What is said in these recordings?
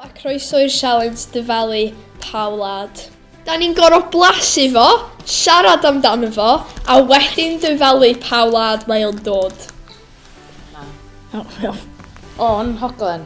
a croeso i'r sialens dyfalu pa wlad. Da ni'n gorau blasu fo, siarad amdano fo, a wedyn dyfalu pa wlad mae o'n dod. Na. O, oh, o'n hoglen.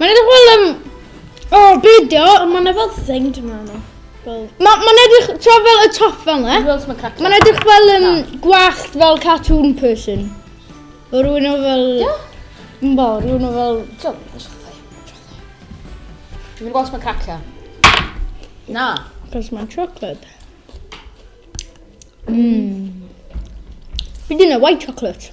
Mae'n edrych fel um, o, oh, beidio, ond mae'n edrych fel thing dwi'n meddwl. Mae'n ma edrych, tra fel y top fel ne? Mae'n edrych fel um, gwallt fel cartoon person. O rwy'n o fel... Yn bo, rwy'n o fel... Dwi'n mynd gweld mae'n cracio. Na. Cos mae'n chocolate. Mmm. Fi dyn nhw white chocolate.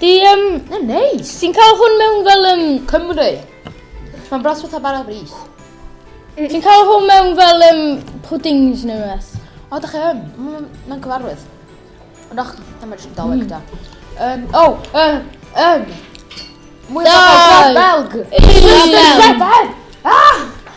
Di, um, yn neis. Ti'n cael hwn mewn fel um, Cymru. Mae'n bras fatha bara bris. Mm. Ti'n cael hwn mewn fel um, puddings neu beth? O, da chi yn. Mm, mae'n cyfarwydd. Ond o'ch, na mae'n rhywun doleg da. Um, o, um, um. Mwy o Belg. Belg. Belg. Ah!